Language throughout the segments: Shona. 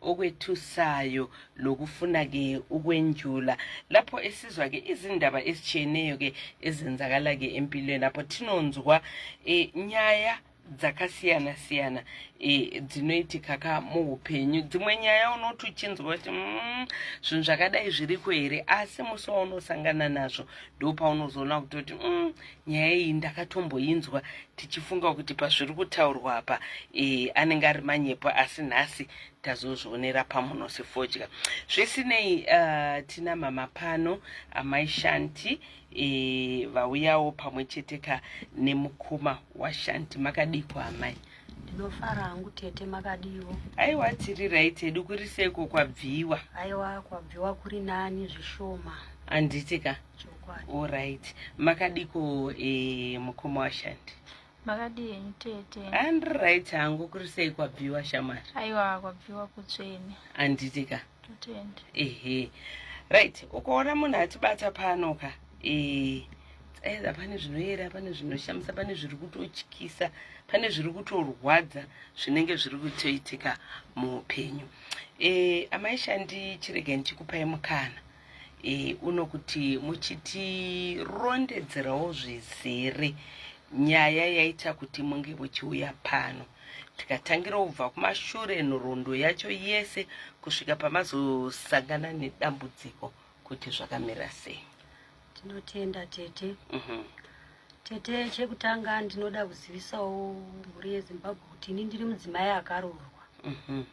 okwethusayo lokufuna ke ukwenjula lapho esizwa ke izindaba esitshiyeneyo ke ezenzakala ke empilweni apho thinonzwa e, eh, nyaya dzakasiyana siyana e, eh, dzinoitika ka muupenyu dzimwe nyaya unoti uchinzwa kuti mm, zvinhu zvakadai zviriko here asi musi waunosangana nazvo ndopaunozoona kutoti mm, nyaya iyi ndakatomboinzwa tichifunga kuti pazviri kutaurwa apa e, anenge ari manyepo asi nhasi tazozvionera pamuno sefodya zvisinei uh, tina mama pano amai shanti e, vauyawo pamwe chete ka nemukoma washanti makadiko amai ndinofara hangu tete makadiwo aiwa tiri right hedu kuri seko kwabviwa aiwa kwabviwa kuri nani zvishoma handiti ka Alright. Makadiko eh mukoma washandi. Makadii enyu tete? And right hangu kuri sei kwabviwa shamari? Aiwa kwabviwa kutsvene. Anditi ka? Totenda. Ehe. Right, ukaona munhu atibata pano ka. Eh either pane zvinoyera pane zvinoshamisa pane zviri kutotyisa pane zviri kutorwadza zvinenge zviri kutoitika muupenyu e, eh, amaishandi chiregai ndichikupai mukana e, uno kuti muchitirondedzerawo zvizere nyaya yaita kuti munge muchiuya pano tikatangira kubva kumashure nhoroondo yacho yese kusvika pamazosangana nedambudziko kuti zvakamira sei tinotenda tete mm -hmm. tete chekutanga ndinoda kuzivisawo mhuri yezimbabwe kuti ini ndiri mudzimai akaroorwa mm -hmm.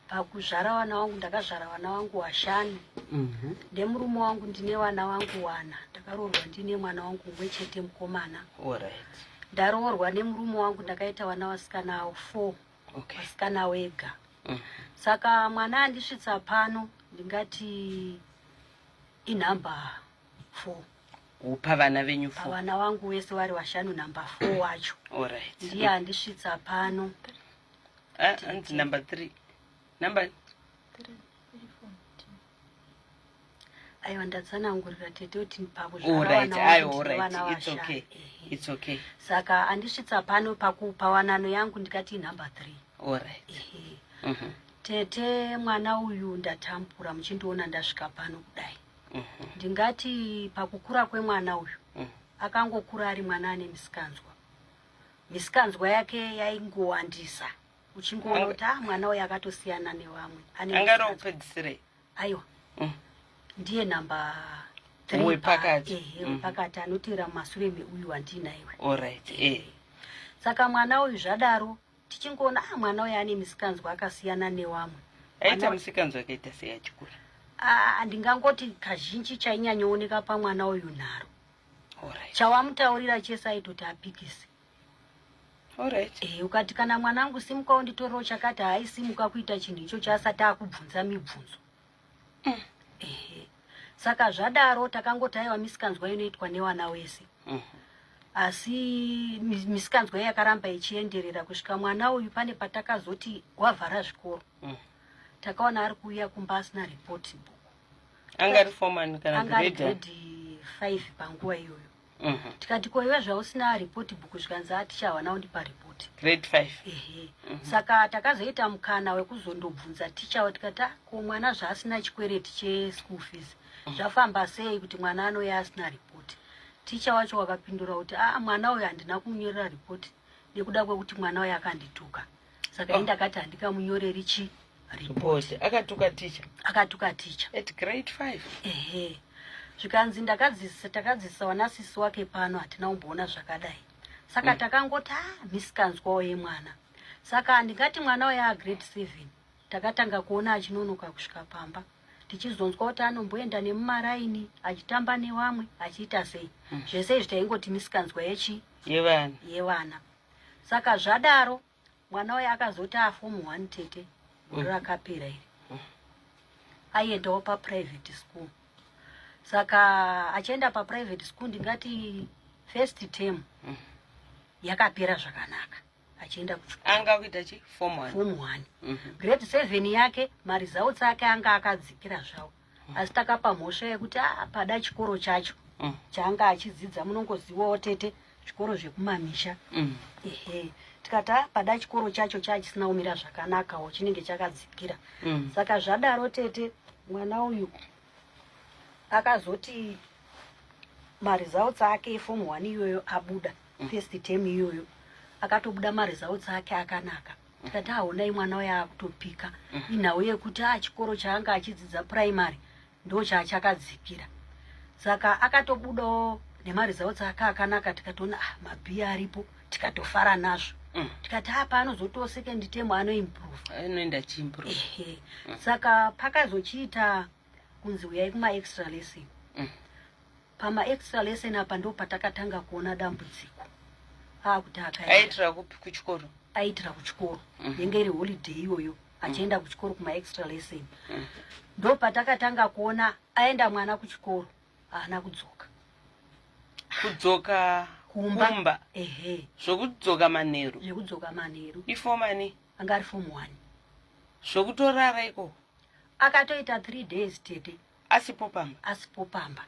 pakuzvara vana wangu ndakazvara vana wangu washanu mhm. ndemurume wangu ndine vana wangu wana ndakaroorwa ndine mwana wangu umwe chete mukomana ndaroorwa nemurume wangu ndakaita vana vasikana avo four vasikana okay. wega mm. saka mwana andisvitsa pano ndingati inhamba four kupa vana venyu four vana wangu wese vari vashanu nhamba four wacho ndiye andisvitsa pano ah, anzi number three number aiwa ndatsanangurira tete kuti ndipakuzvaaoritsoky it's okay saka andisvitsa pano pakupa wanano yangu ndikati number three orit mhm. tete mwana uyu ndatambura muchindiona ndasvika pano kudai mhm. ndingati pakukura kwemwana uyu mhm. akangokura ari mwana ane misikanzwa misikanzwa yake yaingowandisa uchingoona kuti ah mwana uyo akatosiyana nevamwe angaropedzisirei aiwa mm. ndiye number wepakati ehe mm. wepakati anotevera mumasure meuyu wandinaiwe allright eh saka mwana uyu zvadaro tichingoona ah mwana uyo ane misikanzwa akasiyana newamwe aita misikanzwa akaita seyachikura ah, handingangoti kazhinji chainyanyooneka pamwana uyu nharo Alright. Chawamutaurira chese aitoti apikise. Alright. Eh, ukati kana mwana wangu simuka unditorewo chakati haisimuka kuita chinhu icho chaasati akubvunza mibvunzo. Mm. Eh. Saka zvadaro takangoti aiwa misikanzwa inoitwa newana wese. Mm -hmm asi misikanzwa iyi yakaramba ichienderera kusvika mwana uyu pane patakazoti wavhara zvikoro mm. takaona ari kuuya kumba asina report book angari foreman kana angari grade 5 panguva iyoyo mhm. tikati ko iwe zvausina report book zvikanzi atichawa nawo ndipa report grade 5 ehe mhm. saka takazoita mukana wekuzondobvunza tichawa tikati ah, ko mwana zvaasina chikwereti che school fees mhm. zvafamba sei kuti mwana anouya asina report ticha wacho wakapindura kuti a ah, mwana uyo handina kumunyorera report nekuda kwekuti mwana uyo akandituka saka ini ndakati handikamunyoreri chi report akatuka ticha akatuka ticha at grade 5 ehe zvikanzi ndakadzisa takadzisa wanasisi wake pano hatina kumboona zvakadai saka mm. takangoti a ah, misikanzwawo yemwana saka handingati mwana waye agrade seven takatanga kuona achinonoka kusvika pamba tichizonzwa kuti anomboenda nemumaraini achitamba newamwe achiita sei mm. zvese izvi taingoti misikanzwa yechi yevana yevana saka zvadaro mwana waye akazoti afomu one tete gore mm. rakapera iri mm. aiendawo paprivate school saka achienda paprivate school ndingati first term mm. yakapera zvakanaka achienda kuanga kuita chi form one form one mm-hmm. grade seven yake maresults ake anga akadzikira zvawo asi takapa mhosva yekuti a ah, pada chikoro chacho mm. chaanga achidzidza munongoziwawo tete zvikoro zvekumamisha mm. ehe tikati ah, pada chikoro chacho chaachisina kumira zvakanakawo chinenge chakadzikira mm. saka zvadaro tete mwana uyu akazoti maresults ake efom one iyoyo abuda mm. first term iyoyo akatobuda maresults ake akanaka ndikati haonai mwana uya akutopika mm. inhau yekuti a ah, chikoro chaanga achidzidza primary ndo chaachakadzikira saka akatobudawo nemari zao tsaka akanaka tikatoona ah, mabhiya aripo tikatofara nazvo mm. tikati a ah, paanozotiwo second term anoimprove anoenda chiimprove mm. saka pakazochiita kunzi huyai kuma extra lesson mm. pama extra lesson apa ndo patakatanga kuona dambudziko akuti akaitira kupi kuchikoro aitira kuchikoro mm. yenge iri holiday iyoyo achienda mm. kuchikoro kuma extra lesson mm. ndo patakatanga kuona aenda mwana kuchikoro haana kudzoka kudzoka kumba ehe zvokudzoka manheru zvekudzoka manheru ifomani anga ari form one zvokutorara iko akatoita three days tete asipo pamba asipo pamba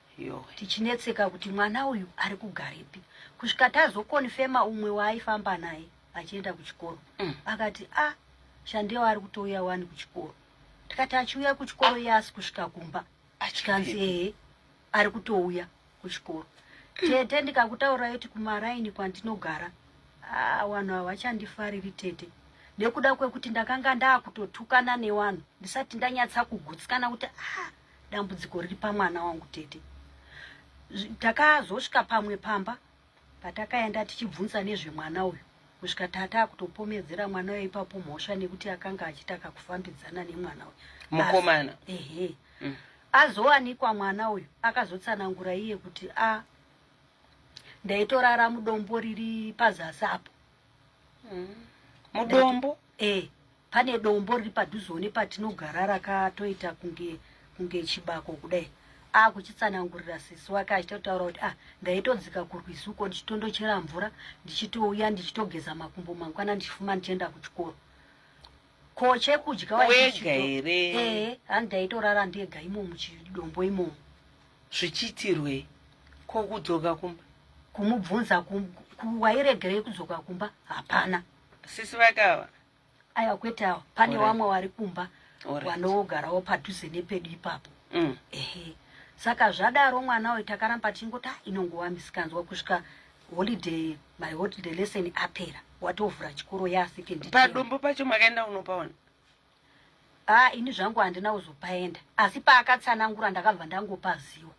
tichinetseka kuti mwana uyu ari kugarepi kusvika tazokonfema umwe waaifamba naye achienda kuchikoro mm. akati a ah, shandewa ari kutouya wani kuchikoro tikati achiuya kuchikoro iye asi kusvika kumba tikanzi ehe ari kutouya kuchikoro tete ndikakutaura yoti kumaraini kwandinogara ah, vanhu ah, havachandifariri tete nekuda kwekuti ndakanga ndaakutotukana nevanhu ndisati ndanyatsa kugutsikana kuti ah, dambudziko riri pamwana wangu tete takazosvika pamwe pamba Patakaenda tichibvunza nezvemwana uyu kusvika tata akutopomedzera mwana uyo ipapo mhosva nekuti akanga achitaka kufambidzana nemwana uyu mukomana ehe mm. azowanikwa mwana uyu akazotsanangura iye kuti a ah, ndaitorara mudombo riri pazasi apo mm. mudombo e Pane dombo riri padhuzewo nepatinogara rakatoita kunge kunge chibako kudai akuchitsanangurira sisi wake achitotaura kuti ah ndaitodzika kurwizi uko ndichitondochera mvura ndichitouya ndichitogeza makumbo mangwana ndichifuma ndichienda kuchikoro ko chekudya wega here ee handi ndaitorara ndega imo muchidombo imomo zvichiitirwei ko kudzoka kumba kumubvunza wairegerei kudzoka kumba hapana sisi vakava aiwa kwete awa pane vamwe vari kumba vanogarawo padhuze nepedu ipapo mm. ehe saka zvadaro mwana uyu takaramba tichingoti ah, inongova misikanzwa kusvika holiday my holiday lesson apera watovhura chikoro yasekendipadumbu pacho makaenda unopaona a ah, ini zvangu handina kuzopaenda asi paakatsanangura ndakabva ndangopaziwa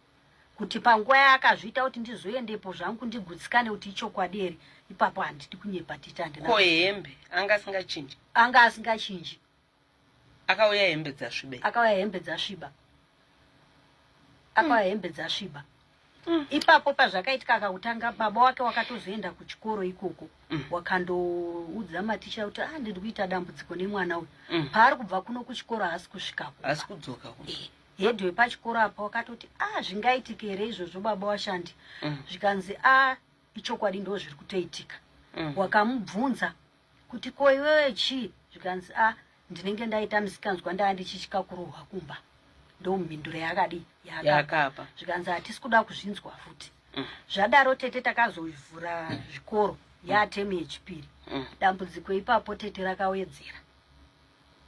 kuti panguva yaakazviita kuti ndizoendepo zvangu ndigutsikane kuti ichokwadi here ipapo handidi kunyepa titi andina ko hembe anga asingachinji anga asingachinji akauya hembe dzasviba akauya hembe dzasviba akauya hembe dzasviba mm. ipapo pazvakaitika akakutanga baba wake wakatozoenda kuchikoro ikoko mm. wakandoudza maticha kuti ah ndiri kuita dambudziko nemwana uyu mm. paari kubva kuno kuchikoro haasi kusvikako haasi kudzoka kuno eh. head wepachikoro apa wakatoti a ah, zvingaitike here izvozvo baba washandi mm. zvikanzi a ah, ichokwadi ndo zviri kutoitika mm. wakamubvunza kuti ko iwewe chii zvikanzi a ah, ndinenge ndaita misikanzwa ndaa ndichichika kurohwa kumba ndo mhinduro yakadi yakapa zvikanzi hatisi kuda kuzvinzwa futi mm. zvadaro tete takazovhura zvikoro yatemu yechipiri dambudziko ipapo tete rakawedzera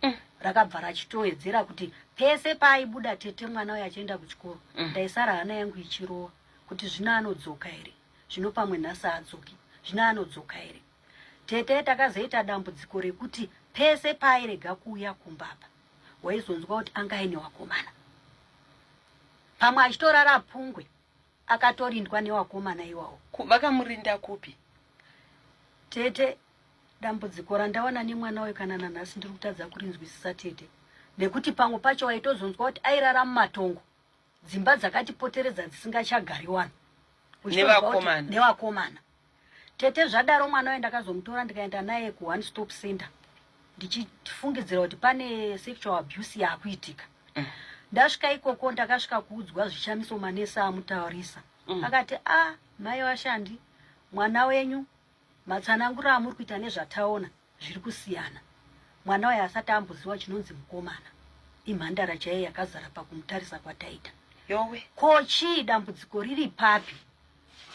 mm. rakabva rachitowedzera kuti pese paaibuda tete mwana uyo achienda kuchikoro mm. ndaisara hana yangu ichirowa kuti zvino anodzoka here zvino pamwe nhasi adzoki zvino anodzoka here tete takazoita dambudziko rekuti pese paairega kuuya kumbapa waizonzwa kuti anga aine wakomana pamwe achitorara pungwe akatorindwa newakomana iwawo vakamurinda kupi tete dambudziko randawana nemwana uyu kana nanhasi ndiri kutadza kurinzwisisa tete nekuti pamwe pacho waitozonzwa kuti airara mumatongo dzimba dzakatipoteredza dzisingachagari wani nevakomana tete zvadaro mwana uye ndakazomutora ndikaenda naye kuone stop center ndichifungidzira kuti pane sexual abuse yaakuitika mm. ndasvika ikoko ndakasvika kuudzwa zvichamiso manesi amutaurisa mm. akati a ah, mai washandi mwana wenyu Matsananguro amuri kuita nezvataona zviri kusiyana. Mwana waye asati amboziwa chinonzi mukomana. Imhandara chaiye yakazara pakumutarisa kwataita. Yowe. Ko chii dambudziko riri papi?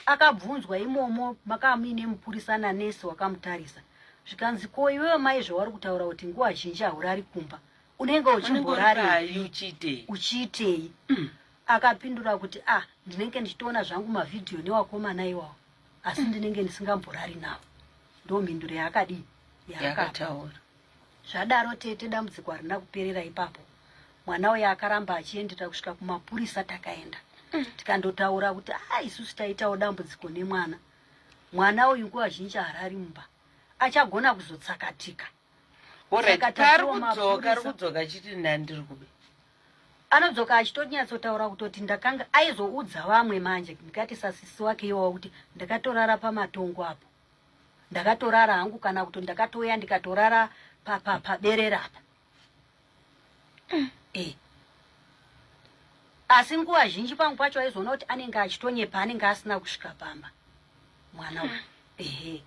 Akabvunzwa imomo makamuine mupurisa nanesi wakamutarisa. Zvikanzi ko iwewe mai zvawari kutaura kuti nguva zhinji haurari kumba. Unenge uchimborari uchiitei? Mm. Akapindura kuti ah ndinenge ndichitoona zvangu mavhidhiyo newakomana iwawo. asi mm. ndinenge ndisingamborari navo ndo mhinduro yaakadii yaakataura zvadaro tete dambudziko harina kuperera ipapo mwana uyo akaramba achiendera kusvika kumapurisa takaenda mm. tikandotaura kuti a ah, isusu taitawo dambudziko nemwana mwana uyu nguva zhinji harari mumba achagona kuzotsakatika arikudzoka chiti ndandiri kube anodzoka achitonyatsotaura kutoti ndakanga aizoudza vamwe manje ndikati sasisi wake iwawa kuti ndakatorara pamatongo apo ndakatorara hangu kana kuti ndakatouya ndikatorara paberera apa mm, eh. asi nguva zhinji pangu pacho aizoona kuti anenge achitonyepa anenge asina kusvika pamba mwana uyu ehe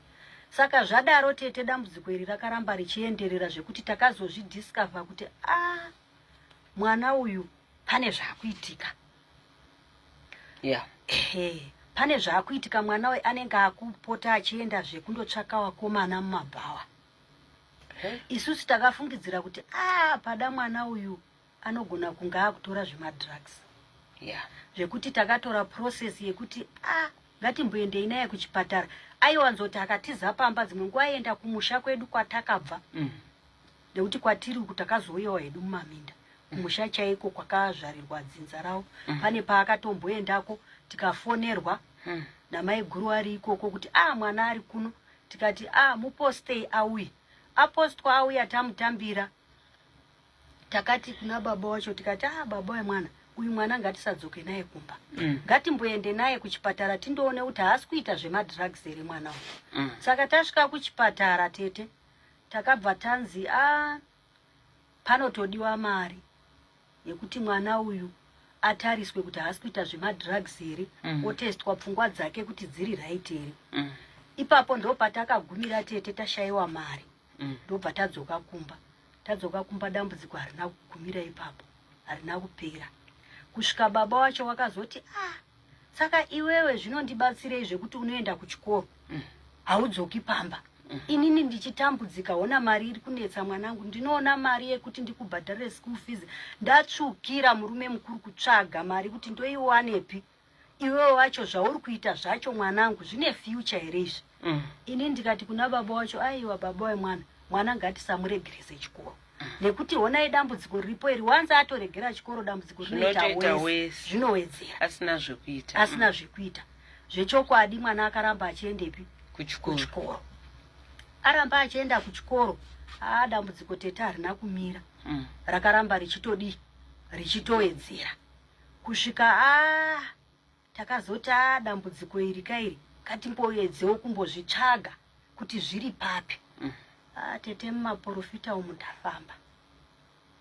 saka zvadaro tete dambudziko iri rakaramba richienderera zvekuti takazozvidiscover kuti a ah, mwana uyu pane zvaakuitika yeah. ehe pane zvaakuitika mwana uyu anenge akupota achienda zvekundotsvaka wakomana mumabhawa isusu takafungidzira kuti a ah, pada mwana uyu anogona kunge akutora zvemadrugs yeah. zvekuti takatora process yekuti a ah, ngatimboendei naye kuchipatara aiwanzoti akatiza pamba dzimwe nguva aienda kumusha kwedu kwatakabva mm. nekuti kwatiri uku takazouyawo hedu mumaminda kumusha chaiko kwakazvarirwa dzinza ravo mm. pane paakatomboendako tikafonerwa mm. namaiguru ari ikoko kuti a ah, mwana ari kuno tikati a ah, mupostei auye apostwa auya tamutambira takati kuna baba wacho tikati a ah, baba wemwana uyu mwana ngatisadzoke naye kumba mm. ngatimboende naye kuchipatara tindoone kuti haasi kuita zvemadrugs here mwana uyu mm. saka tasvika kuchipatara tete takabva tanzi a ah, Panotodiwa mari yekuti mwana uyu atariswe kuti haasi kuita zvemadrugs here mm. otestwa pfungwa dzake kuti dziri right here mm. ipapo ndopatakagumira tete tashayiwa mari mm. ndobva mm. tadzoka kumba tadzoka kumba dambudziko harina kugumira ipapo harina kupera kusvika baba wacho wakazoti ah saka iwewe zvinondibatsirei zvekuti unoenda kuchikoro mm. haudzoki pamba mm. inini ndichitambudzika hona mari iri kunetsa mwanangu ndinoona mari yekuti ndikubhadharire school fees ndatsvukira murume mukuru kutsvaga mari kuti ndoiwanepi iwewe wacho zvauri kuita zvacho mwanangu zvine future here izvi mm. ini ndikati kuna baba wacho aiwa baba wemwana mwana ngatisamuregerese chikoro nekuti honai dambudziko riripo iri wanzi atoregera chikoro dambudziko rinoita wese zvinowedzera asina zvekuita asina mm. zvekuita zvechokwadi mwana akaramba achiendepi kuchikoro aramba achienda kuchikoro aa dambudziko tete harina kumira mm. rakaramba richitodii richitowedzera kusvika a Takazoti ah dambudziko iri kairi ngatimboedzewo kumbozvitsvaga kuti zviri papi. Mm. Ah tete mumaporofita umu ndafamba.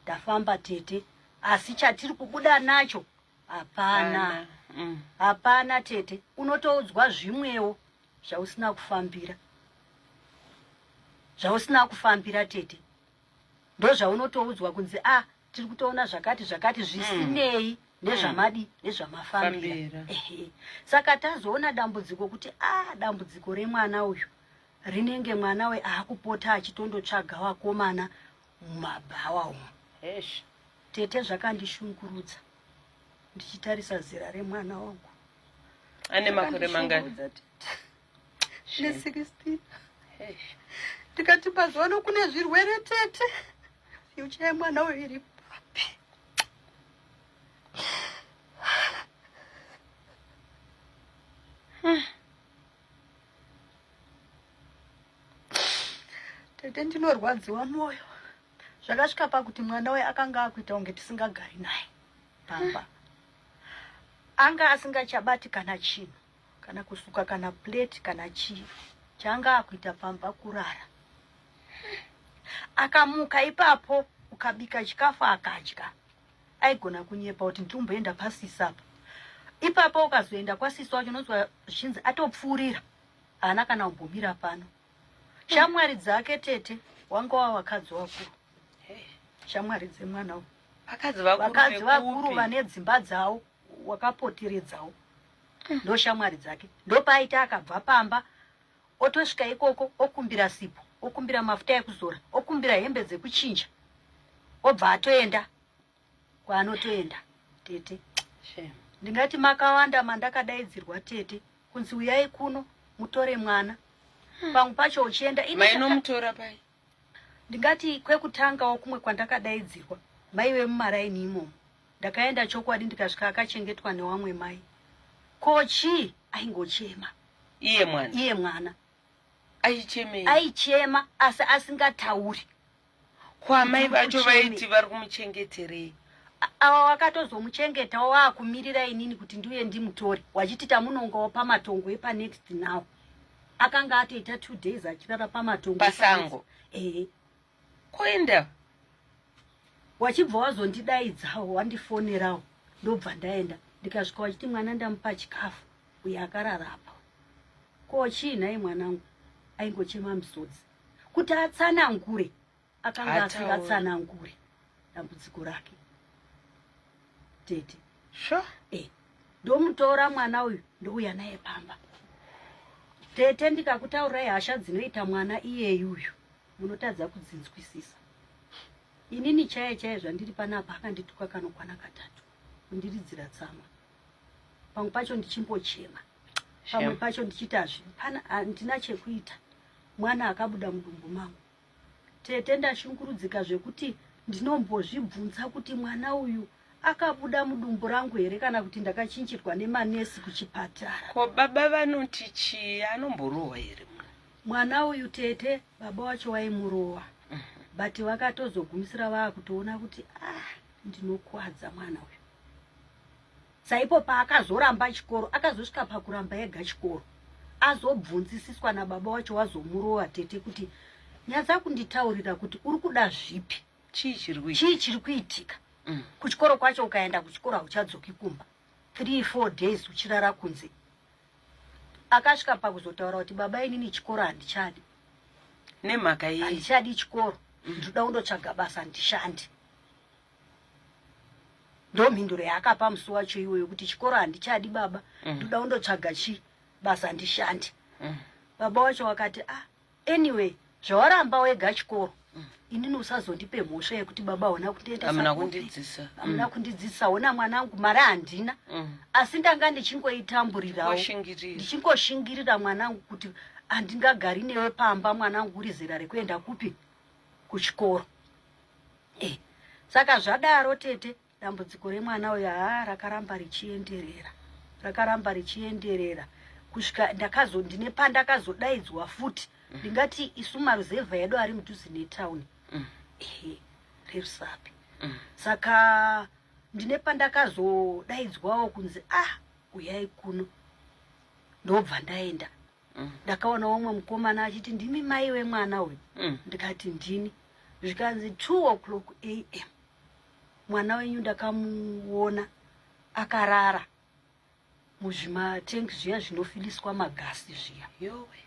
Ndafamba tete asi chatiri kubuda nacho hapana. Mm. Hapana tete unotoudzwa zvimwewo zvausina kufambira. Zvausina kufambira tete. Ndozvaunotoudzwa kunzi ah tiri kutoona zvakati zvakati zvisinei mm. nezvamadi mm. nezvamafambira saka tazoona dambudziko kuti a ah, dambudziko remwana uyu rinenge mwana we aakupota achitondotsvaga wakomana mumabhawa umu tete zvakandishungurudza ndichitarisa zera remwana wangu ane makore mangani ne16 tikati mazuva ano kune zvirwere tete fyucha yemwana uyo iri papi tete ndinorwadziwa mwoyo zvakasvika pakuti mwana uyo akanga akuita kunge tisingagari naye pamba anga asingachabati kana chinhu kana kusuka kana plate kana chii changa akuita pamba kurara akamuka ipapo ukabika chikafu akadya aigona kunyepa kuti ndikumboenda pasisa apa ipapo ukazoenda kwasisa wacho unonzwa zvichinzi atopfuurira haana kana kumbomira pano shamwari dzake tete wanga wa vakadzi vakuru shamwari dzemwana vakadzi vakuru vane dzimba dzavo wakapoteredzawo ndo shamwari dzake ndopaaita akabva pamba otosvika ikoko okumbira sipo okumbira mafuta ekuzora okumbira hembe dzekuchinja obva atoenda kwaanotoenda tete ndingati makawanda mandakadaidzirwa tete kunzi uyai kuno mutore mwana hmm. pangu pacho uchienda mainomutora pai Ndingati kwekutangawo kumwe kwandakadaidzirwa maive mumaraini imomo. Ndakaenda chokwadi ndikasvika akachengetwa newamwe mai. Ko chii? Aingochema. Iye mwana. Iye mwana. Aichemei? Aichema asi asingatauri. Kwamai vacho vaiti vari kumuchengeterei? awa wakatozomuchengeta waakumirira inini kuti ndiuye ndimutore wachiti tamunongawo pamatongo epanext now akanga atoita two days achirara pamatongo pasango ehe koenda wachibva wazondidaidzawo wandifonerawo ndobva ndaenda ndikasvika wachiti mwana ndamupa chikafu uye akararapa ko chii nhai mwanangu aingochema misodzi kuti atsanangure akanga asingatsanangure dambudziko rake tete sure. eh, ndomutora mwana uyu ndouya naye pamba tete ndikakutaurai hasha dzinoita mwana iyeyu uyu munotadza kudzinzwisisa inini chaye chaye zvandiri panapa akandituka kanokwana katatu kundiridzira tsamwa pamwe pacho ndichimbochema pamwe pacho ndichiti hazvi pana handina chekuita mwana akabuda mudumbu mangu Tete ndashungurudzika zvekuti ndinombozvibvunza kuti mwana uyu akabuda mudumbu rangu here kana kuti ndakachinjirwa nemanesi kuchipatara ko baba vanoti chii anomborohwa here mwana uyu tete baba wacho waimurohwa mhm. but vakatozogumisira vaakutoona kuti ah ndinokwadza mwana uyu Saipo paakazoramba chikoro akazosvika pakuramba ega chikoro azobvunzisiswa nababa wacho wazomurova tete kuti nyadza kunditaurira kuti uri kuda zvipi chii chiri kuitika mm. kuchikoro kwacho ukaenda kuchikoro hauchadzoki kumba three four days uchirara kunze akasvika pakuzotaura kuti baba inini chikoro handichadi nemhaka yei handichadi chikoro mm. ndinoda kundotsvaga basa ndishandi ndomhinduro yaakapa musi wacho iwoyo kuti chikoro handichadi baba mm. ndoda mm. undotsvaga chi basa handishandi mm. baba wacho wakati ah anyway zvawaramba wega chikoro mm. inini usazondipe mhosva yekuti baba haona kundiendaamuna kundidzisa amuna mm. kundidzisa hona mwana angu mari handina mm. asi ndanga ndichingoitamburirawo ndichingoshingirira mwana angu kuti handingagari newe pamba mwana angu uri zera rekuenda kupi kuchikoro Eh, saka zvadaro tete dambudziko remwana uyo haa rakaramba richienderera rakaramba richienderera kusvika ndakazo ndine pandakazodaidzwa futi mm. ndingati mm. isu maruzevha edu ari mudhuze netown mm. ehe rerusapi mm. saka ndine pandakazodaidzwawo kunzi ah uyai kuno ndobva ndaenda mm. ndakaona umwe mukomana achiti ndimi mai wemwana uyu mm. ndikati ndini zvikanzi 2 o'clock am mwana wenyu ndakamuona akarara muzvimatengi zviya zvinofiliswa magasi zviya yowe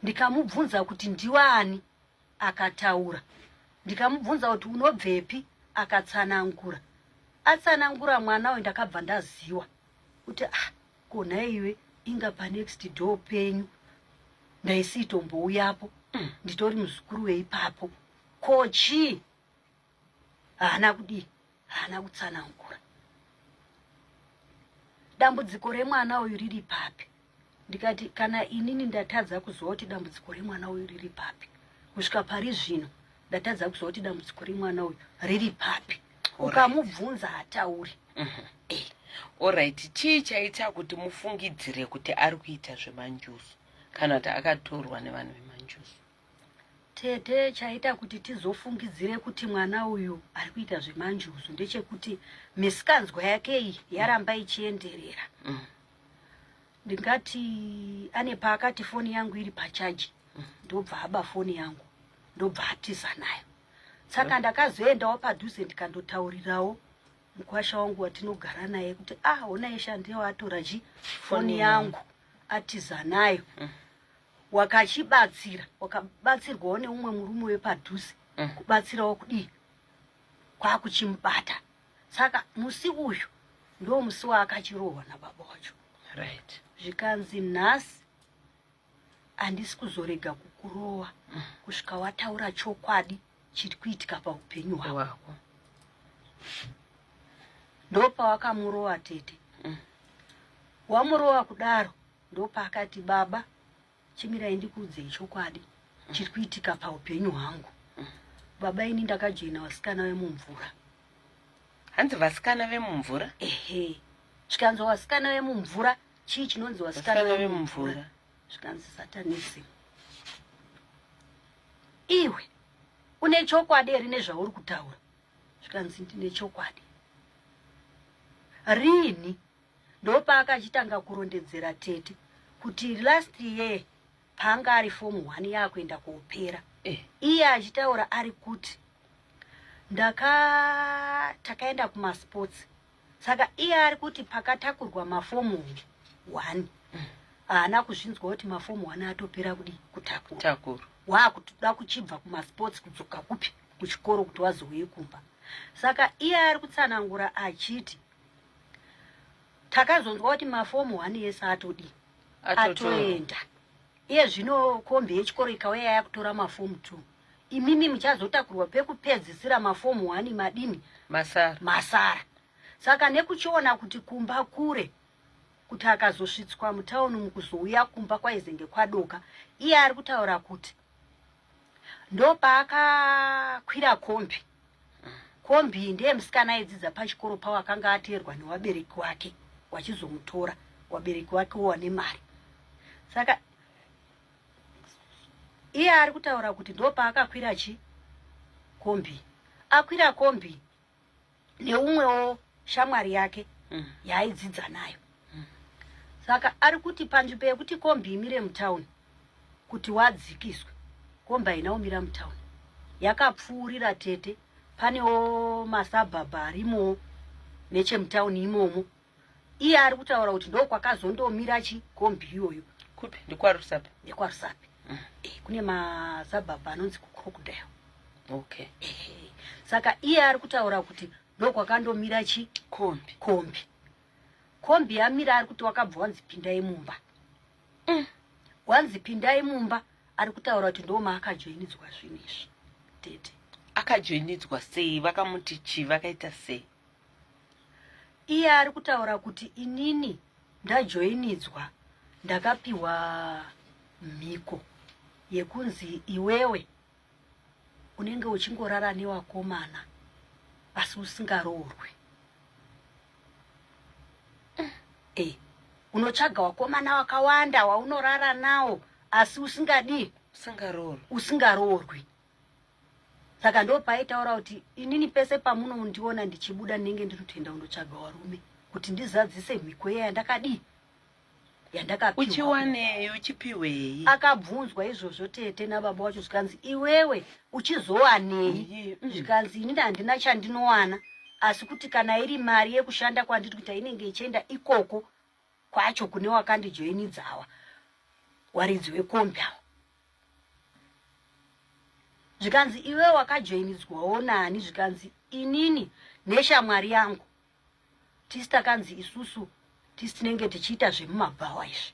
ndikamubvunza kuti ndiwani akataura ndikamubvunza kuti unobvepi akatsanangura atsanangura mwana uyu ndakabva ndaziwa kuti ah, ko nhaiwe inga panext door penyu ndaisitombouyapo mm. nditori muzukuru weipapo ko chii haana kudii haana kutsanangura dambudziko remwana uyu riri papi ndikati kana inini ndatadza kuziva kuti dambudziko remwana uyu riri papi kusvika pari zvino ndatadza kuziva kuti dambudziko remwana uyu riri papi ukamubvunza hatauri right. mhm. eh, orit chii chaita kuti mufungidzire kuti ari kuita zvemanjuzu kana kuti akatorwa nevanhu vemanjuzu tete chaita kuti tizofungidzire kuti mwana uyu ari kuita zvemanjuzu ndechekuti misikanzwa yake iyi yaramba ichienderera mm. ndingati ane paakati foni yangu iri pachaji mm. ndobva aba foni yangu ndobva atiza nayo saka ndakazoendawo padhuze ndikandotaurirawo mukwasha wangu watinogara naye kuti ah ona yeshe andiyo atora chi foni yangu atiza nayo mm. wakachibatsira wakabatsirwawo neumwe murume wepadhuze mm. kubatsirawo kudii kwakuchimubata saka musi uyu ndo musi waakachirohwa nababa wacho right zvikanzi nhasi Handisi kuzorega kukurova mm. kusvika wataura chokwadi chiri kuitika paupenyu hwako. Ndopawakamurova tete. Mm. Wamurova kudaro ndopaakati baba chimirai ndikuudzei chokwadi mm. chiri kuitika paupenyu hwangu. Mm. Baba ini ndakajoina vasikana vemumvura. Hanzi vasikana vemumvura? Ehe. Chikanzwa vasikana vemumvura chii chinonzi vasikana vemumvura zvikanzi satanisi iwe une chokwadi here nezvauri kutaura zvikanzi ndine chokwadi riini ndopaakachitanga kurondedzera tete kuti last year paanga ari fomu one yaakuenda kuopera eh. iye achitaura ari kuti ndaka takaenda kumasports saka iye ari kuti pakatakurwa mafomu one haana kuzvinzwa kuti mafomu one atopera kudi kutakurwa waakutoda kuchibva kumasports kudzoka kupi kuchikoro kuti wazouye kumba saka iye ari kutsanangura achiti takazonzwa kuti mafomu one yese atodii atoenda iye zvino kombi yechikoro ikauya yakutora mafomu two imimi muchazotakurwa pekupedzisira mafomu wani madini masara masara saka nekuchiona kuti kumba kure kuti akazosvitswa mutauni mukuzouya kumba kwaizenge kwadoka iye ari kutaura kuti ndopaakakwira kombi kombi ndiye musikana aidzidza pachikoro pavo akanga ateerwa newabereki wake wachizomutora wabereki wake wowane mari saka iye ari kutaura kuti ndopaakakwira chi kombi akwira kombi neumwewo shamwari yake mm. yaaidzidza nayo mm. saka ari kuti panzvimbo yekuti kombi imire mutauni kuti wadzikiswe kombi haina kumira mutauni yakapfuurira tete panewo masabhabha arimowo nechemutauni imomo iye ari kutaura kuti ndokwakazondomira chikombi iyoyo kupi ndikwarusapi ndikwarusapi mm. e, eh, kune mazabhabha anonzi kucrocodile okay e, saka iye ari kutaura kuti ndokwakandomira chikombi kombi kombi yamira ari kuti wakabva wanzi pindai mumba mm. wanzi pindai mumba ari kutaura kuti ndoma akajoinidzwa zvinizvi tete akajoinidzwa sei vakamuti chii vakaita sei iye ari kutaura kuti inini ndajoinidzwa ndakapiwa mhiko yekunzi iwewe unenge uchingorara newakomana asi usingaroorwe e unotsvaga wakomana wakawanda waunorara nawo asi usingadii usingaroorwi saka ndo paaitaura kuti inini pese pamunondiona ndichibuda ndinenge ndiri kutoenda kundotsvaga warume kuti ndizadzise mhiko iya yandakadii yandakauchiwaneyo uchipiwei akabvunzwa izvozvo tete nababa wacho zvikanzi iwewe uchizowanei mm. zvikanzi inini handina chandinowana asi kuti kana iri mari yekushanda kwandiri kuita inenge ichienda ikoko kwacho kune wakandijoinidzawa waridzi wekombi awa zvikanzi iwe wakajoinidzwawo nani zvikanzi inini neshamwari yangu tisi takanzi isusu tisi tinenge tichiita zvemumabhawa izvi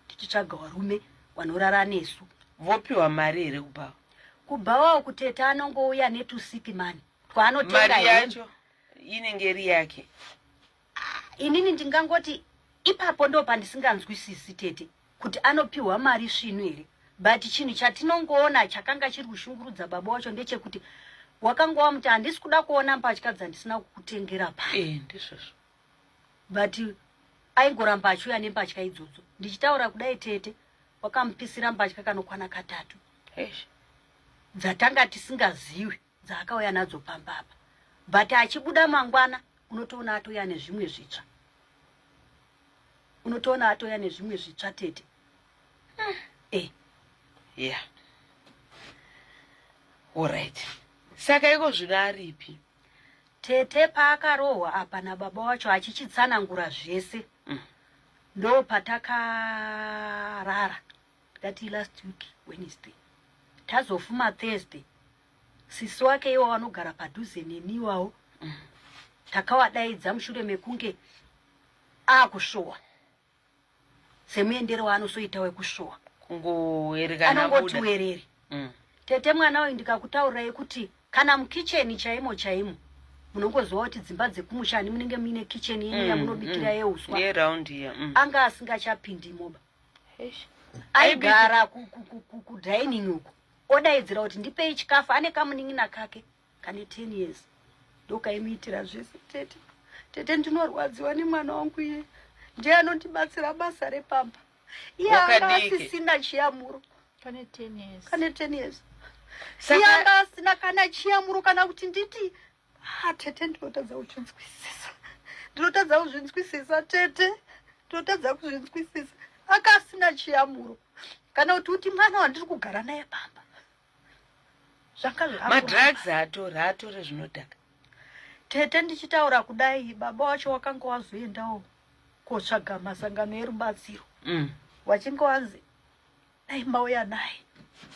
tichitsvaga varume vanorara nesu vopiwa mari here kubhawa kubhawawo kuteta anongouya netusikimani twaanotenga yacho inenge iri yake inini ndingangoti ipapo ndo pandisinganzwisisi tete kuti anopiwa mari svinu here but chinhu chatinongoona chakanga chiri kushungurudza baba wacho ndechekuti wakanga wamuti handisi kuda kuona mbatya dzandisina kukutengera pa eh, ndizvozvo but aingoramba achiuya nembatya idzodzo ndichitaura kudai tete wakamupisira mbatya kanokwana katatu dzatanga tisingaziwi dzaakauya nadzo pamba apa but achibuda mangwana unotoona atouya nezvimwe zvitsva unotoona atouya nezvimwe zvitsva tete ah, eh ya orit saka iko zvino aripi tete paakarohwa apa nababa wacho achichitsanangura zvese mm. ndo patakarara that last week wednesday tazofuma thursday sisi wake iwo vanogara padhuze neni iwawo takawadaidza mushure mekunge akushowa semuendero waanosoita wekushowa anongoti werere mm. tete mwana uyu ndikakutaurirai kuti kana mukicheni chaimo chaimo munongoziva kuti dzimba dzekumusha ani munenge muine kicheni yenyu mm, yamunobikira mm. yeuswa mm. anga asingachapindi moba aigara kudining uku odaidzira kuti ndipei chikafu ane kamunin'ina kake kane ten years ndokaimuitira zvese tete tete ndinorwadziwa nemwana wangu iye ndiye anondibatsira basa repamba iye anga asisina chiyamuro kane ten years iye anga asina kana chiyamuro kana kuti nditi Ah, tete ndinotadza kuchinzwisisa. Ndinotadza kuzvinzwisisa tete. Ndinotadza kuzvinzwisisa. Akasina chiyamuro. Kana kuti uti mwana wandiri kugara naye pamba. Zvanga zvavo. Madrugs atori atori zvinodhaka. Tete ndichitaura kudai baba wacho wakanga wazoendawo kotsvaga masangano erubatsiro. Mm. Wachinge wanzi dai mauya naye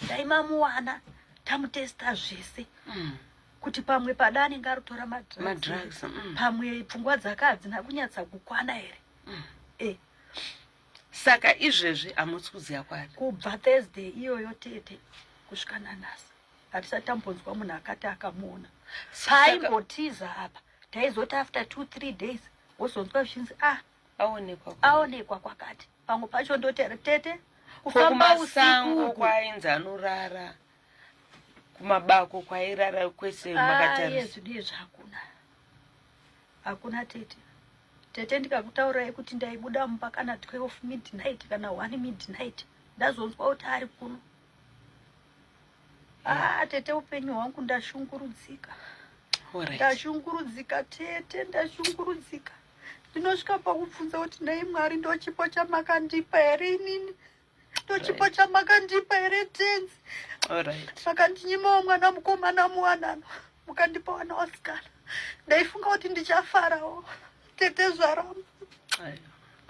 dai mamuwana tamutesta zvese mm. kuti pamwe pada anenge arutora madrugs mm. pamwe pfungwa dzake hadzina kunyatsa kukwana here mm. e. saka izvezvi hamusi kuziva kwati kubva thursday iyoyo tete kusvika nanhasi hatisati tambonzwa munhu akati akamuona paimbotiza apa taizoti after two three days wozonzwa zvichinzi ah aonekwa kwakati pamwe pacho ndotera tete kufamba usiku kwainzi anorara kumabako kwairara kwese ah, makatarisudie zvakuna hakuna tete tete ndikakutaurai kuti ndaibuda mumba kana 12 midnight kana 1 midnight ndazonzwa kuti ari kuno Ah, tete upenyu hwangu ndashungurudzika. Alright. Ndashungurudzika tete, ndashungurudzika. Ndinosvika pakubvunza kuti nhai Mwari ndochipo chamakandipa here inini? Ndochipo Right. chamakandipa here tenzi? Alright. Makandinyimawo mwana mukomana muwanano, mukandipa wana wasikana. Ndaifunga kuti ndichafarawo. Tete zvaramba. Ayo.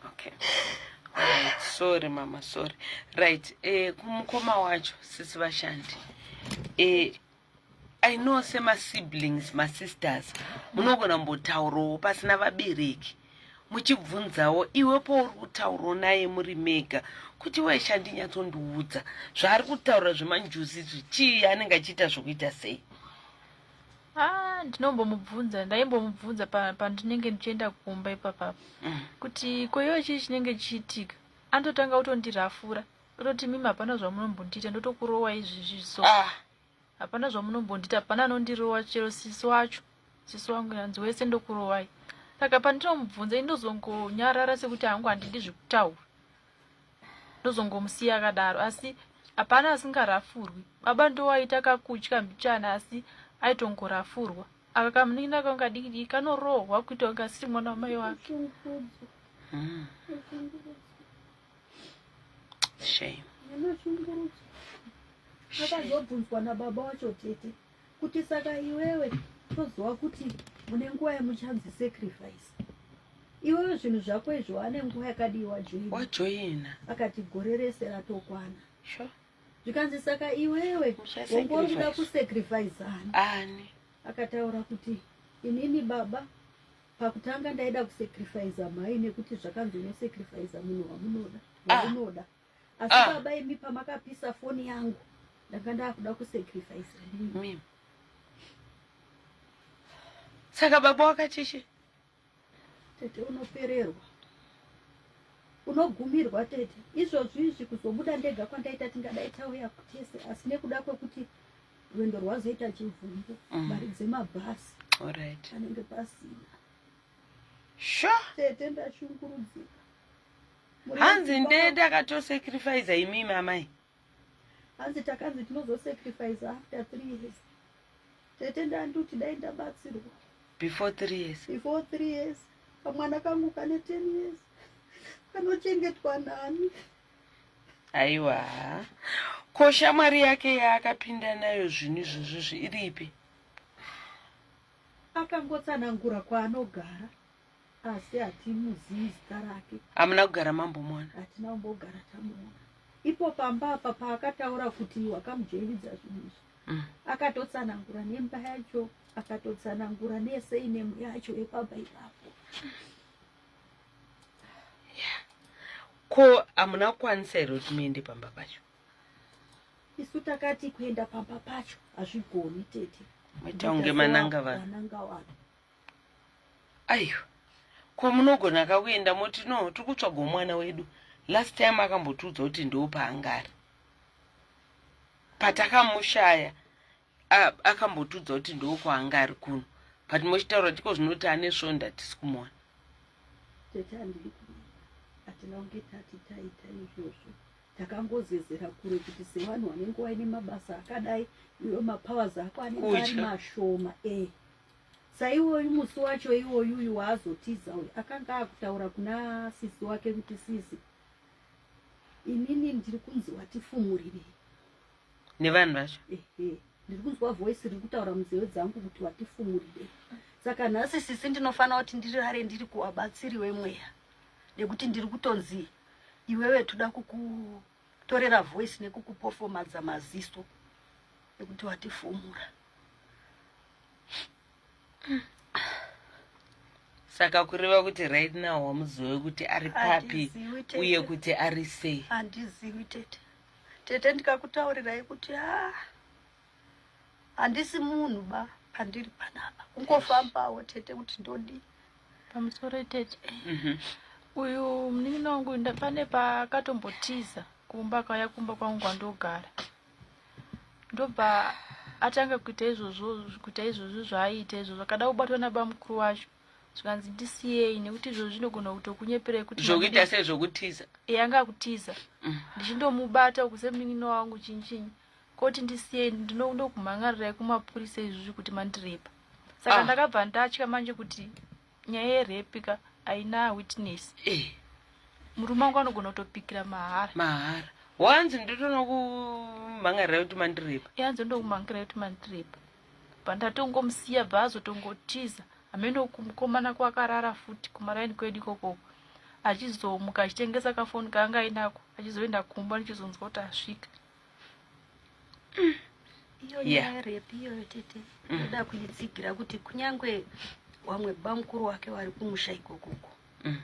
okay right. sorry mama sorry right eh, kumukoma wacho sisi vashandi eh, i know semasiblings masisters munogona mbotaurawo pasina vabereki muchibvunzawo iwe pouri kutaurawo naye muri mega kuti weshe andinyatsondiudza zvaari kutaura zvemanjuzi izvi chii anenge achiita zvokuita sei Ah, ndinombomubvunza ndaimbomubvunza pandinenge ndichienda kumba ipapa mm. kuti koiwe chii chinenge chichiitika anototanga kutondirafura ototi mimi hapana zvamunombondiita ndotokurowa izvizvi so ah. hapana zvamunombondiita hapana anondirowa chero sisi wacho sisi wangu yanzi wese ndokurowai saka pandinomubvunza indozongonyarara sekuti hangu handidi zvekutaura ndozongomusiya akadaro asi hapana asingarafurwi baba ndowaita kakutya mbichana asi aitongorafurwa aka kamunin'ina kangu kadiki diki kanorohwa kuita kunge asiri mwana wamai wake hmm. shame akazobvunzwa nababa wacho tete kuti saka iwewe toziva kuti mune nguva yemuchanzi sacrifice iwewe zvinhu zvako izvo wane nguva yakadii wajoina akati gore rese ratokwana zvikanzi saka iwewe wongori kuda kusacrifice ani akataura kuti inini baba pakutanga ndaida kusacrifice mhai nekuti zvakanzi unosacrifice munhu wamunoda ah. waunoda asi ah. baba imi pamakapisa foni yangu ndanga ndakuda kusacrifice mimi saka baba wakachichi tete unopererwa unogumirwa tete izvozvo izvi kuzobuda ndega kwandaita tingadai tauya kutese asi nekuda kwekuti rwendo rwazoita chivhungu mm. mari dzemabhasi anenge pasina sure tete ndashungurudzika hanzi ndee takatosacrifiza imimi amai hanzi takanzi tinozosacrifiza after three years tete ndanduti dai ndabatsirwa before three years before three years kamwana kangu kane ten years kanochengetwa nani aiwa ko shamwari yake yaakapinda nayo zvinhu izvozvozvi iripi akangotsanangura kwaanogara asi hatimuzivi zita rake hamuna kugara mambomuona hatina kumbogara tamuona ipo pamba apa paakataura kuti wakamujoinidza zvinhu izvi mm. akatotsanangura nemba yacho akatotsanangura nese inemu yacho yepamba ipapo ko hamuna kukwanisa here kuti muende pamba pacho isu takati kuenda pamba pacho hazvigoni tete maita kunge mananga vanhu aiwa ko munogona ka kuenda moti no tiri kutsvagawo mwana wedu last time akambotiudza kuti ndoo paanga ari patakamushaya akambotiudza kuti ndoo kwaanga ari kuno but mochitaura kuti iko zvinoti ane svonda tisi kumuona hatina kunge tati taita izvozvo takangozezera kure kuti sevanhu vanenge vaine mabasa akadai iwe mapowers ako anenge ari mashoma ee eh. saiwoyu musi wacho iwoyu uyu waazotiza uyu akanga akutaura kuna sisi wake kuti sisi inini ndiri kunzi watifumurirei nevanhu vacho ehe ndiri kunzwa voice riri kutaura munzeve dzangu kuti watifumurirei saka nhasi sisi ndinofanira kuti ndirare ndiri kuwabatsiri wemweya nekuti ndiri kutonzi iwewe toda kukutorera voice nekukupofomadza maziso ekuti watifumura saka kureva kuti right now wamuzive kuti ari papi uye kuti ari sei handizivi tete tete ndikakutaurirai kuti a ah, handisi munhu ba pandiri panapa kungofambawo tete kuti ndodii pamusoro tete mhm. uyu munin'ina wangu pane paakatombotiza kumba kauya kumba kwangu kwandogara ndobva atanga kuita izvozvo kuita izvozvo zvaaiita izvozvo akada kubatwa nabamukuru wacho zvikanzi ndisiyei nekuti izvozvo zvinogona kutokunyeperei kuti zvokuita sei zvokutiza yanga akutiza mm. ndichindomubata uku semunin'ina wangu chinyi chinyi koti ndisiyei ndinoda kumhan'arirai kumapurisa izvozvi kuti mandirepa saka ah. ndakabva ndatya manje kuti nyaya yerape ka haina witness eh. murume wangu anogona kutopikira mahara mahara wanzi ndotonokumhangarira kuti mandirepa yanzi ndokumhangira kuti mandirepa pandatongomusiya bva azotongotiza hameno kumukomana kwakarara futi kumaraini kwedu ikokoko achizomuka achitengesa kafoni kaanga ainako achizoenda kumba ndichizonzwa kuti asvika iyo nyaya repi iyoyo tete mm. ndoda kuidzigira kuti kunyange wamwe bamukuru wake wari kumusha ikokoko mm.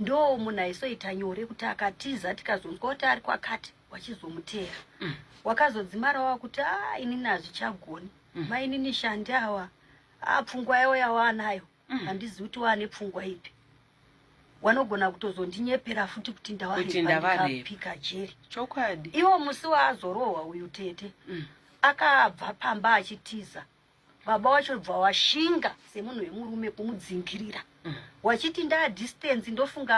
ndo munhu aisoita nyore kuti akatiza tikazonzwa kuti ari kwakati wachizomuteera mm. wakazodzimara wava kuti a ah, inini hazvichagoni mainini shandi awa a ah, pfungwa yavo yawanayo mm. handizivi kuti waane pfungwa ipi wanogona kutozondinyepera futi kuti ndawaepika jeri chokwadi iwo musi waazorohwa uyu tete mm. akabva pamba achitiza baba wacho bva washinga semunhu wemurume kumudzingirira mm. wachiti ndadistance ndofunga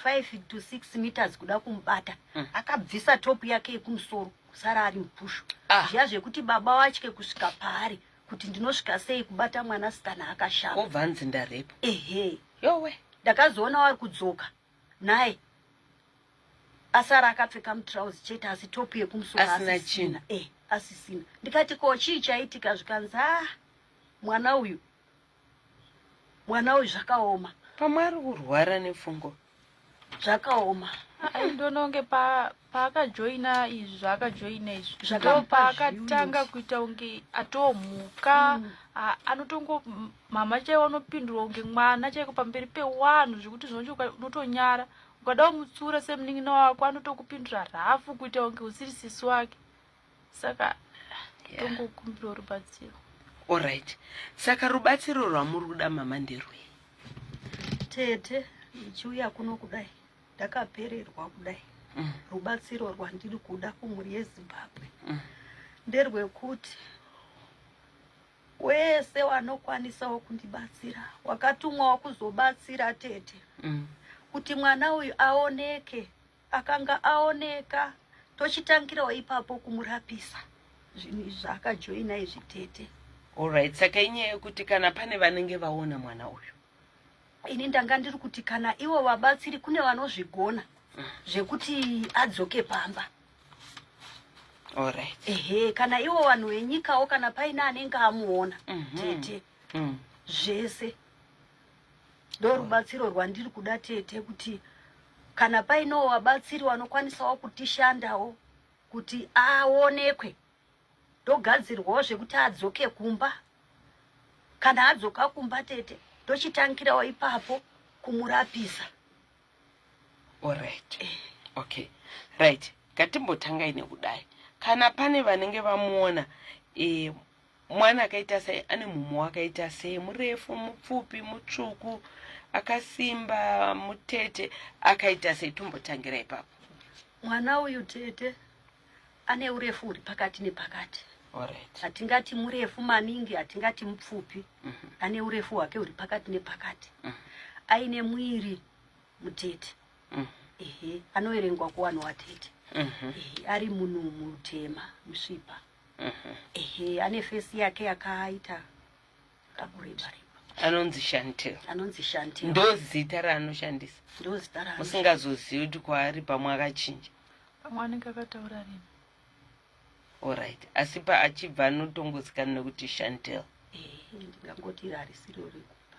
5 to 6 meters kuda kumubata mm. akabvisa top yake yekumusoro kusara ari mupushu ah. zviya zvekuti baba watye kusvika paari kuti ndinosvika sei kubata mwana sikana akashama kobva anzi ndarepo ehe yowe ndakazoona wari kudzoka naye asara akapfeka mutrauzi chete asi topu yekumusoroasina eh, asisina ndikati ko chii chaitika zvikanzi ah mwana uyu mwana uyu zvakaoma pamwe ari kurwara nepfungwa zvakaoma aindononge paakajoina pa izvi zvaakajoina izvi paakatanga kuita kunge atomhuka mm. anotongo mama chaivo anopindurwa kunge mwana chaiko pamberi pewanhu zvekuti zvinonge unotonyara ukada kumutsura semunin'ina wako anotokupindura rhafu kuita kunge usiri sisi wake saka tongokumbirawo rubatsiro orit saka rubatsiro rwamuri kuda mama nderwei tete ndichiuya kuno kudai ndakapererwa kudai mm. rubatsiro rwandiri kuda kumhuri yezimbabwe mm. nderwekuti wese wanokwanisawo kundibatsira wakatumwawo kuzobatsira tete mm. kuti mwana uyu aoneke Akanga aoneka tochitangirawo ipapo kumurapisa zvinhu izvi zvaakajoina izvi tete. Alright, saka inyaya yekuti kana pane vanenge vaona mwana uyu. Ini ndanga ndiri kuti kana ivo vabatsiri kune vanozvigona mm. zvekuti adzoke pamba. Alright. Ehe, kana ivo vanhu venyikawo kana paine anenge amuona mm -hmm. tete mm. zvese ndorubatsiro rwandiri kuda tete kuti kana painowo vabatsiri vanokwanisawo kutishandawo kuti aonekwe ndogadzirwawo zvekuti adzoke kumba kana adzoka kumba tete tochitangirawo ipapo kumurapisa orit eh. okay right ngatimbotangai nekudai kana pane vanenge vamuona e, mwana akaita sei ane mumwe wakaita sei murefu mupfupi mutsvuku akasimba mutete akaita sei tombotangira ipapo mwana uyu tete ane urefu huri pakati nepakati hatingati right. murefu maningi hatingati mupfupi mm -hmm. ane urefu hwake huri pakati nepakati mm -hmm. aine mwiri mutete mm -hmm. ehe anoverengwa kuwanhu watete mm -hmm. ehe ari munhu mutema musvipa ehe ane face yake yakaita kakureba anonzi shantel anonzi shantel ndozita raanoshandisa ndozita ra musingazozivi kuti kwaari pamwe akachinja pamwe anenge akataura rini orit asi paachibva anotongozikana nekuti shantel ndingangoti rarisiro rekupa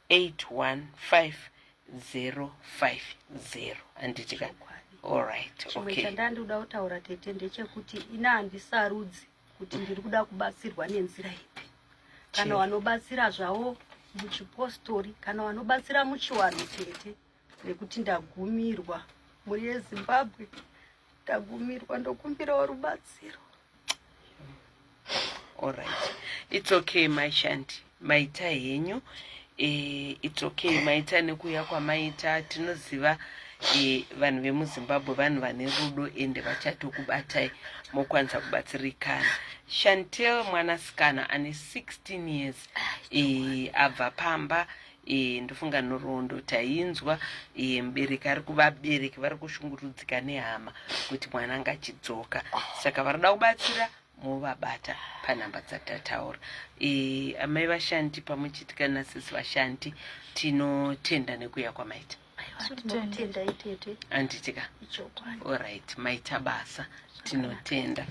81505 handiti ka allright chimwe okay. chandandoda kutaura tete ndechekuti ina handisarudzi kuti ndiri kuda kubatsirwa nenzira ipi kana vanobatsira zvavo muchipostori kana vanobatsira muchiwanhu tete nekuti ndagumirwa mhuri yezimbabwe ndagumirwa ndokumbirawo rubatsiro allright its okay mai shanti maita henyu e, its okay maita nekuuya kwamaita tinoziva e, vanhu vemuzimbabwe vanhu vane rudo ende vachatokubatai mokwanisa kubatsirikana shantel mwanasikana ane 16 years e, abva pamba e, ndofunga nhoroondo tainzwa e, mubereki ari kuvabereki vari kushungurudzika nehama kuti mwana anga achidzoka saka varida kubatsira movabata panhamba dzatataura e, amai vashandi pamwe chiti kana sisi vashandi tinotenda nekuuya kwamaita anditika orit maita basa tinotenda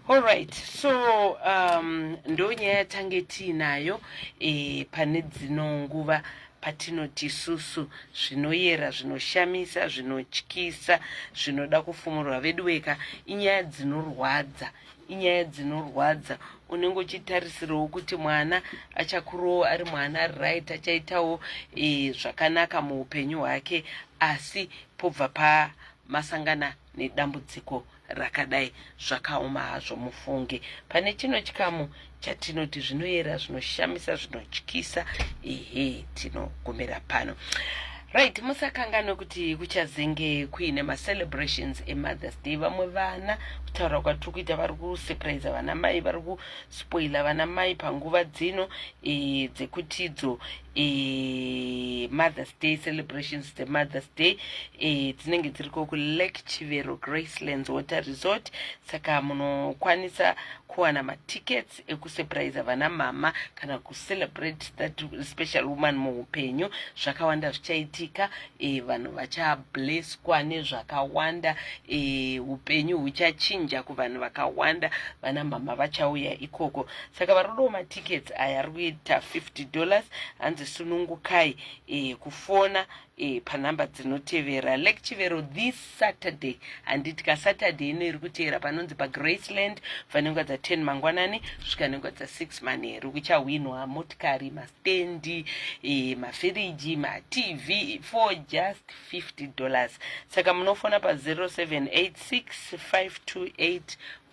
Alright, so um, ndo nyaya yatange tiinayo e, pane dzino nguva patinoti isusu zvinoyera zvinoshamisa zvinotyisa zvinoda kufumurwa veduweka inyaya dzinorwadza inyaya dzinorwadza unenge uchitarisirawo kuti mwana achakurowo ari mwana ari right achaitawo e, zvakanaka muupenyu hwake asi pobva pamasangana nedambudziko rakadai zvakaoma hazvo mufunge pane chino chikamu chatinoti zvinoyera zvinoshamisa zvinotyisa ehe tinogumira pano right musakanganwe kuti kuchazenge kuine macelebrations emother's day vamwe vana kutaura kwatiri kuita vari kusurprise vana mai vari kuspoila vana mai panguva dzino e, dzekutidzo e, mothers day celebrations dzemothers day e, dzinenge dziri ko kulake chivero gracelands water resort saka munokwanisa kuwana matickets ekusurprise vana mama kana kucelebrate that special woman muupenyu zvakawanda zvichaitika e, vanhu vachableswa nezvakawanda e, upenyu huchachinja kuvanhu vakawanda vana mama vachauya ikoko saka varudo matickets aya ari kuita 50 dollars hanzi sunungukai eh, kufona eh, panhamba dzinotevera lek chivero this saturday handiti kasaturday ino iri kuteera panonzi pagraceland kubva nenguva dza 10 mangwanani svika nenguva dza 6 manheru kuchahwinwa motikari mastendi eh, mafiriji matv for just 50 dollars saka munofona pa 0786 528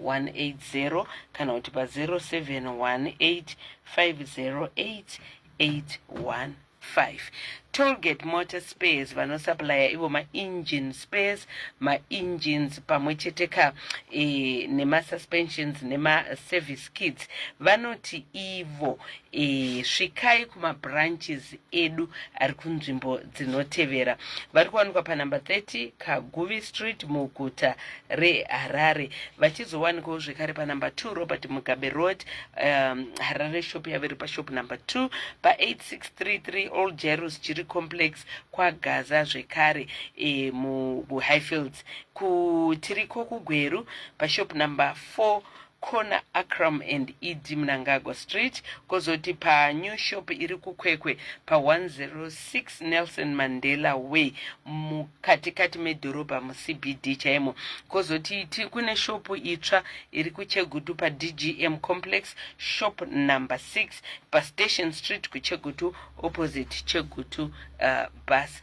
180 kana kuti pa 0718 508 815 tollgate motor spares vanosaplaya ivo maengine spares maengines pamwe chete ka e, eh, nemasuspensions nemaservice kits vanoti ivo e, svikai kumabranches edu ari kunzvimbo dzinotevera vari kuwanikwa panhamba 30 kaguvi street muguta reharare vachizowanikawo zvekare panhamba 2 robert mugabe road um, harare shop yavo iri pashop number 2 pa8633 all jeros jiri complex kwagaza zvekare e, muhighfields kutiriko kugweru pashop number 4 corner Akram and ED Mnangagwa Street kozoti panew shop iri kuKwekwe pa106 Nelson Mandela Way mukatikati medhorobha muCBD chaimo. Kozoti kune shopu itsva iri kuChegutu paDGM Complex shop number 6 paStation Street kuChegutu opposite Chegutu uh, bus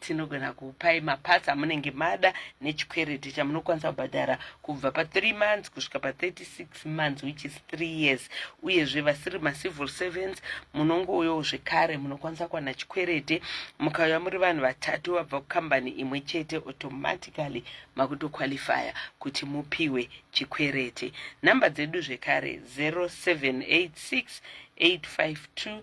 tinogona kupai maparts amunenge mada nechikwereti chamunokwanisa kubhadhara kubva pa3 months kusvika pa36 months which is 3 years uyezve vasiri macivil servants munongouyawo zvekare munokwanisa kuwana chikwereti mukauya muri vanhu vatatu vabva kukambani imwe chete automatically makutoqualifya kuti mupiwe chikwereti nhamba dzedu zvekare 0786 852